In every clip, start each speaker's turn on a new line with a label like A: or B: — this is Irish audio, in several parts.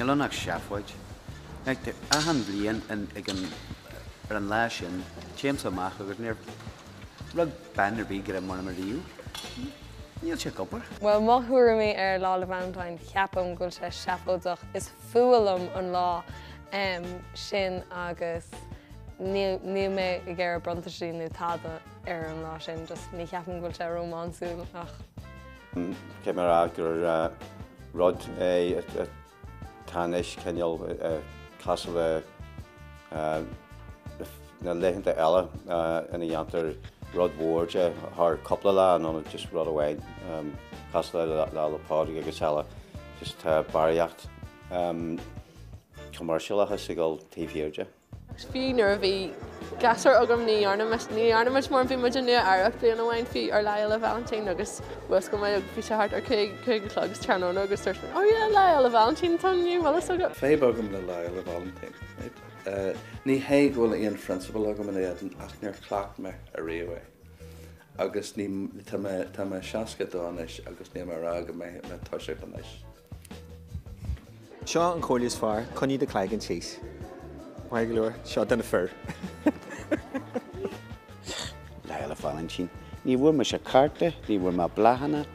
A: Níl ann ach seafóid. Feictear dom achan bhliain an, ag an, ar an lá sin, téimse amach agus níor, rug, bean ar bith greim orm ariamh, níl sé ag obair. Bhuel, mo
B: thuairimí ar Lá 'le Valentine, ceapaim go bhfuil sé seafóideach, is fuath liom an lá sin agus níl mé ag iarraidh bronntanaisí nó tada ar an lá sin, just ní cheapaim go bhfuil sé rómánsúlach. Caithfidh
C: mé a rá gur rud é a. Tá anois cineál cosúil leis na laethanta eile ina dhéantar rud mhór de thar cúpla lá in ionad just rud amháin. Cosúil le Lá 'le Pádraig agus eile, just tá barraíocht commercialachas ag dul taobh thiar de. Fiú
D: nuair a bhí girseach agam ní dhearna muid, ní dhearna muid mórán, bhí muid i Nua Eabhrac bliain amháin fiú, ar Lá Fhéile Vailintín agus mhúscail muid agus bhí sé thart ar cúig, cúig a chlog sa tráthnóna agus dúirt muid oh yeah Lá Fhéile Vailintín atá inniu, an bhfuil fhios agat? Níl fadhb agam le Lá
E: Fhéile Vailintín, ní hé go bhfuil aon phrionsabal agam in éadan ach níor chleacht mé ariamh é agus ní, tá mé, tá mé seasca a dó anois agus ní mó ná go mbeidh mé ag toiseacht anois.
F: Seo an chomhairle is fearr, coinnigh do chloigeann thíos. Maith go leor, seo do na
A: fir. Lá Fhéile Vailintín. Ní bhfuair mise cárta, ní bhfuair mé bláthanna.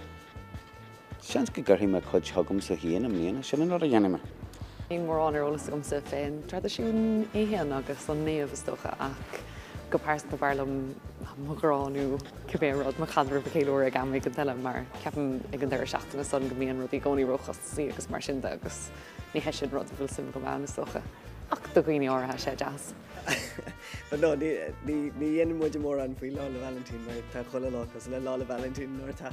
A: Seans go gcuirfidh mé cuid chugamsa féin i mbliana, sin an rud a dhéanfaidh mé. Níl
G: mórán ar eolas agamsa fén dtraidisiún é féin agus an naomh is dócha ach go pearsanta b'fhearr liom mo ghrá nó. cibé rud mo chaidreamh a cheiliúradh ag am éigin eile mar ceapaim ag an deireadh seachtaine san go mbíonn rudaí i gcónaí róchostasí agus mar sin de agus ní hé sin rud a bhfuil suim agam ann is dócha ach do dhaoine áirithe tá sé deas.
H: But no ní ní ní dhéanann muide mórán faoi Lá 'le Vailintín mar tá chuile lá cosúil le Lá 'le Vailintín nuair atá.